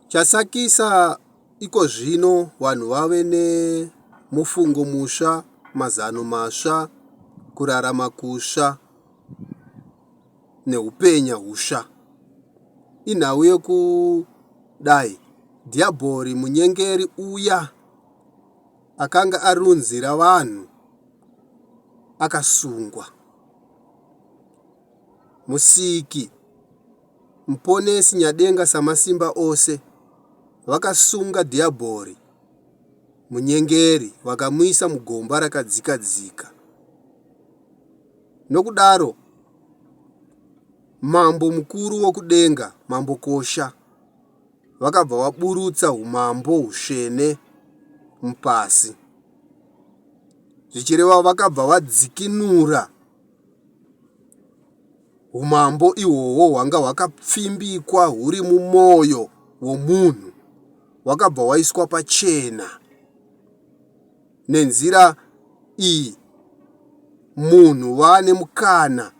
Chasakisa ikozvino vanhu vave nemufungo musva, mazano masva, kurarama kusva neupenya husva. Inhau yokudai Dhiabhori munyengeri uya akanga arunzira vanhu akasungwa. Musiki Muponesi Nyadenga Samasimba Ose vakasunga Dhiabhori munyengeri vakamuisa mugomba rakadzikadzika. Nokudaro Mambo mukuru wokudenga, Mambo Kosha, vakabva vaburutsa umambo husvene mupasi. Zvichireva vakabva vadzikinura Umambo ihwohwo hwanga hwakapfimbikwa huri mumwoyo womunhu hwakabva hwaiswa pachena. Nenzira iyi munhu waane mukana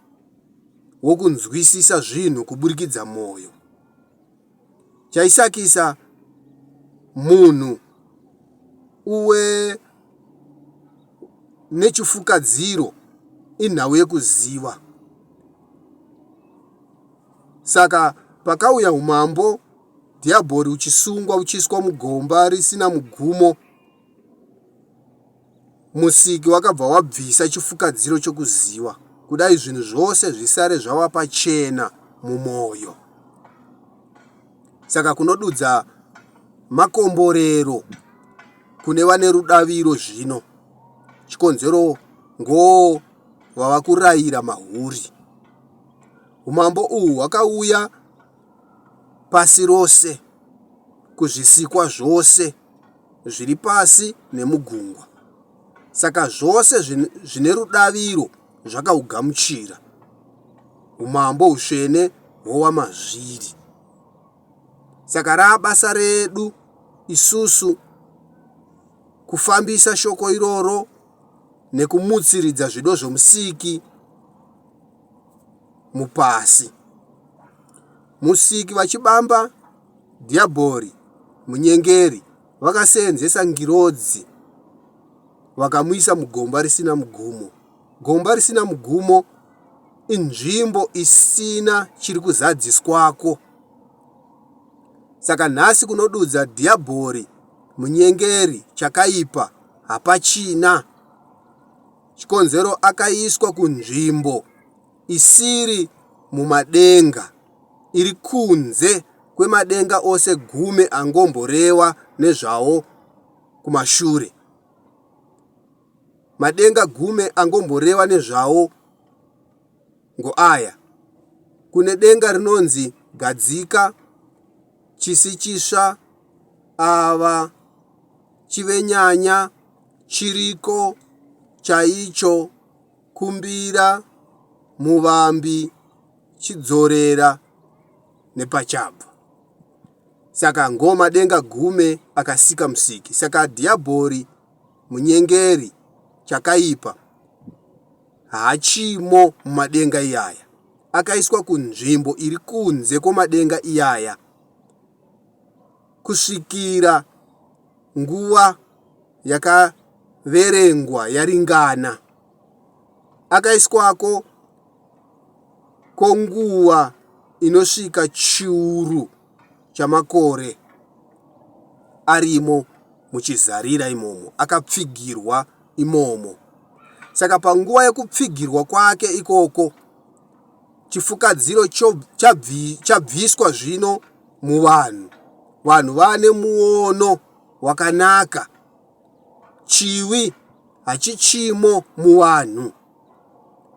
wokunzwisisa zvinhu kuburikidza mwoyo. chaisakisa munhu uwe nechifukadziro inhau yekuziva saka pakauya umambo dhiabhori uchisungwa uchiiswa mugomba risina mugumo Musiki wakabva wabvisa chifukadziro chokuziva, kudai zvinhu zvose zvisare zvava pachena mumwoyo. Saka kunodudza makomborero kune vane rudaviro zvino, chikonzero ngoo vava kurayira mahuri. Umambo uhu hwakauya pasi rose kuzvisikwa zvose. zviri pasi nemugungwa. Saka zvose zvine rudaviro zvakaugamuchira umambo usvene hwowamazviri. Saka raabasa redu isusu kufambisa shoko iroro nekumutsiridza zvido zvomusiki mupasi. Musiki vachibamba Dhiabhori, munyengeri, vakaseenzesa ngirozi vakamuisa mugomba risina mugumo. Gomba risina mugumo inzvimbo isina chiri kuzadziswako. Saka nhasi kunodudza Dhiabhori, munyengeri, chakaipa hapachina chikonzero akaiswa kunzvimbo isiri mumadenga. iri kunze kwemadenga ose gumi angomborewa nezvawo kumashure. Madenga gumi angomborewa nezvawo ngoaya, Kune denga rinonzi Gadzika, Chisi Chisva, Ava, Chivenyanya, Chiriko, Chaicho, kumbira muvambi chidzorera nepachabva saka ngoma denga gume akasika musiki saka dhiabhori munyengeri chakaipa hachimo mumadenga iyaya akaiswa kunzvimbo iri kunze kwomadenga iyaya kusvikira nguva yakaverengwa yaringana. Akaiswako konguva inosvika chiuru chamakore arimo muchizarira imomo, akapfigirwa imomo. Saka panguva yekupfigirwa kwake ikoko, chifukadziro chabviswa zvino muvanhu. Vanhu vane muono wakanaka. Chivi hachichimo muvanhu.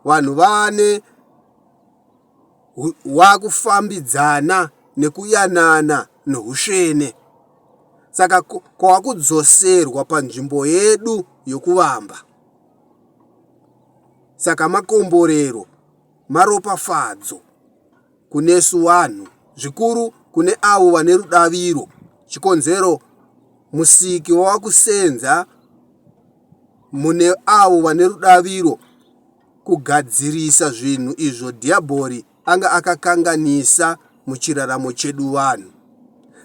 Vanhu vane wakufambidzana nekuyanana nousvene. Saka kwakudzoserwa panzvimbo yedu yokuvamba. Saka makomborero maropafadzo kunesu vanhu, zvikuru kune avo vane rudaviro, chikonzero Musiki wava kusenza mune avo vane rudaviro kugadzirisa zvinhu izvo Dhiyabhori anga akakanganisa muchiraramo chedu vanhu.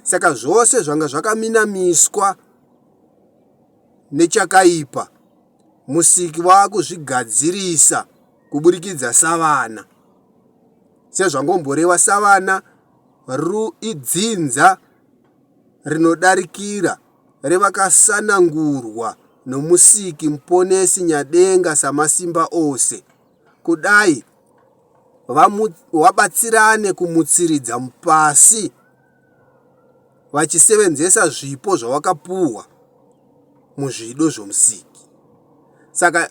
Saka zvose zvanga zvakaminamiswa nechakaipa musiki vakuzvigadzirisa kuburikidza savana sezvangomborewa savana ru idzinza rinodarikira revakasanangurwa nomusiki muponesi nyadenga samasimba ose kudai vabatsirane kumutsiridza pasi vachisevenzesa zvipo zvavakapuwa muzvido zvoMusiki. Saka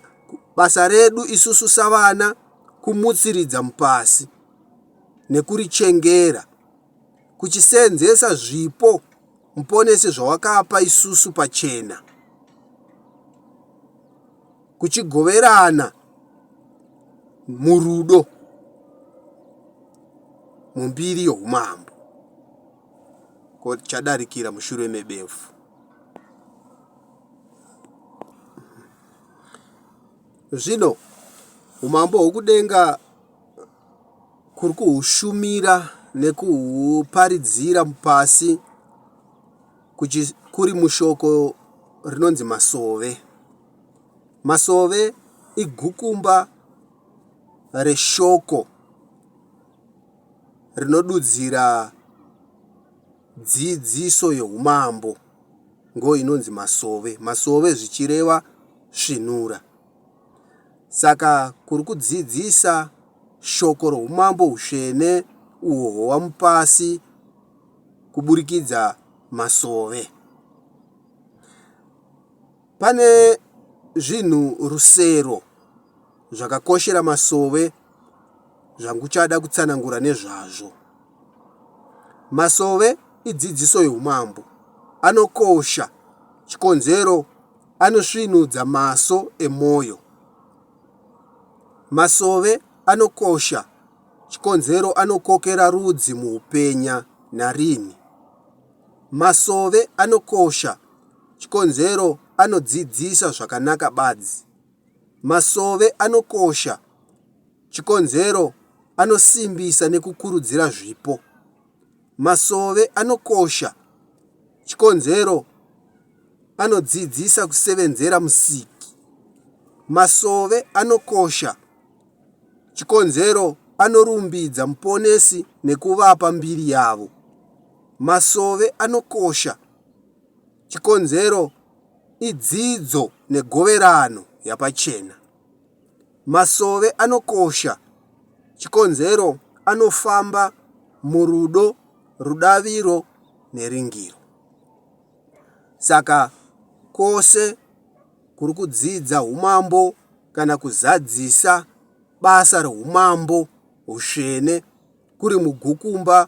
basa redu isusu savana kumutsiridza mupasi nekurichengera kuchisevenzesa zvipo Muponesi zvawakapa isusu pachena. kuchigoverana murudo mumbiri youmambo ko chadarikira mushure mebefu zvino umambo hwokudenga kuri kuhushumira nekuhuparidzira pasi kuri mushoko rinonzi masove Masove igukumba reshoko rinodudzira dzidziso yeumambo ngo inonzi masove. Masove zvichireva svinura. Saka kuri kudzidzisa shoko roumambo usvene uhwo hwamupasi kuburikidza masove. Pane zvinhu rusero zvakakoshera masove zvanguchada kutsanangura nezvazvo. Masove idzidziso youmambo. Anokosha. Chikonzero anosvinudza maso emwoyo. Masove anokosha. Chikonzero anokokera rudzi muupenya. Narini. Masove anokosha chikonzero anodzidzisa zvakanaka badzi. Masove anokosha chikonzero anosimbisa nekukurudzira zvipo. Masove anokosha chikonzero anodzidzisa kusevenzera musiki. Masove anokosha Chikonzero, Anorumbidza Muponesi nekuvapa mbiri yavo. Masove anokosha. Chikonzero, Idzidzo negoverano yapachena. Masove anokosha. Chikonzero, Anofamba murudo, rudaviro neringiro. Saka kwose. kuri kudzidza umambo kana kuzadzisa basa reumambo hutsvene kuri mugukumba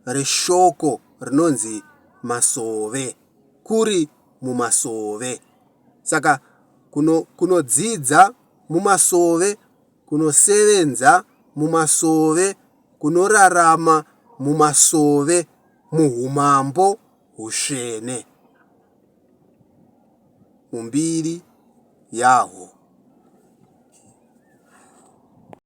reshoko rinonzi masove, kuri mumasove. Saka kuno, kunodzidza mumasove, kunosevenza mumasove, kunorarama mumasove muhumambo hutsvene. mumbiri yahwo.